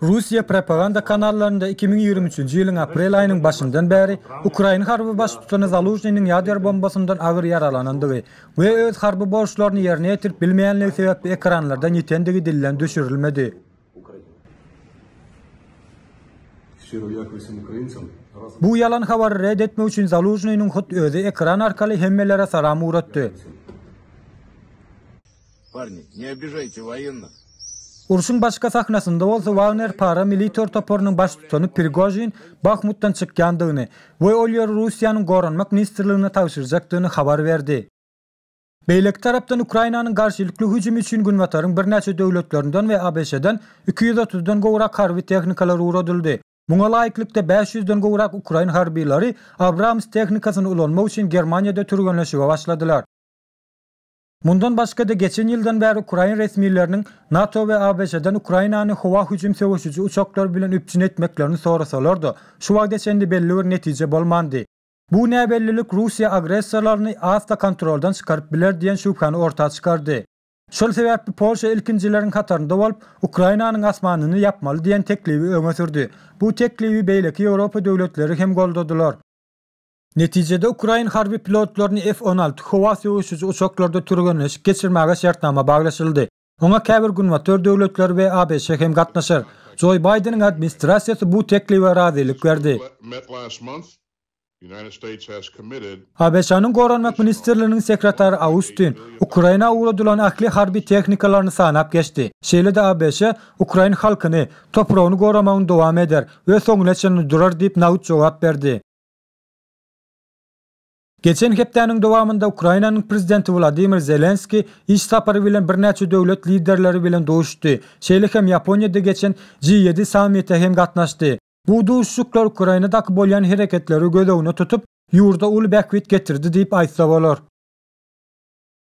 Russiýa propaganda kanallarynda iki müň ýigrimi üçünji ýylyň aprel aýynyň başyndan bäri ukrain harby baştutany Zalužnynyň ýader bombasyndan agyr ýaralanandygy we öz harby borçlaryny ýerine ýetirip bilmeýänligi sebäpli ekranlardan ýitendigi dilden düşürilmedi. Bu ýalan habary red etmek üçin Zalužnynyň hut özi ekran arkaly hemmelere salam ugratdy. Urşuň başga sahnasynda bolsa Wagner para-militor toparynyň baştutany Prigožin Bahmutdan çykýandygyny we ol ýeri Russiýanyň Goranmak ministrligine tabşyrjakdygyny habar berdi. Beýleki tarapdan Ukrainanyň garşylykly hüjümi üçin Günbataryň birnäçe döwletlerinden we ABŞ-dan iki ýüz otuzdan gowrak harby tehnikalar ugradyldy. Muňa laýyklykda bäş ýüzden gowrak ukrain harbylary Abrams tehnikasyny ulanmak üçin Germaniýada türgenleşige başladylar. Mundan başga-da geçen ýyldan bäri ukrain resmileriniň NATO we ABŞ-dan Ukrainany howa hüjüm söweşiji uçaklary bilen üpjün etmeklerini sorasalar-da, şu wagta çenli belli bir netije bolmandy. Bu näbellilik Russiýa agressorlaryny asla kontroldan çykaryp biler diýen şübhäni orta çykardy. Şol sebäpli Polşa ilkinjileriň hatarynda bolup, Ukrainanyň asmanyny ýapmaly diýen teklibi öňe sürdi. Bu teklibi beýleki Ýewropa döwletleri hem goldadylar. Netijede ukrain harby pilotlaryny F-on alty howa söweşiji uçaklarda türgenleşik geçirmäge şertnama baglaşyldy. Oňa käbir Günbatar döwletleri we ABŞ hem gatnaşar. Jo Baýdeniň administrasiýasy bu teklibe razylyk berdi. ABŞ-nyň Goranmak ministrliginiň sekretary Austin Ukraina ugradylan ähli harby tehnikalaryny sanap geçdi. Şeýle-de ABŞ ukrain halkyny, topragyny goramagyny dowam eder we soňuna çenli durar diýip nagt jogap berdi. Geçen hepdäniň dowamynda Ukrainanyň Prezidenti Wladimir Zelenskiý iş sapary bilen birnäçe döwlet liderleri bilen duşuşdy, şeýle hem Ýaponiýada geçen G ýedi sammite hem gatnaşdy. Bu duşuşyklar Ukrainadaky bolýan hereketleri göz öňüne tutup, ýurda uly bähbit getirdi diýip aýtsa bolar.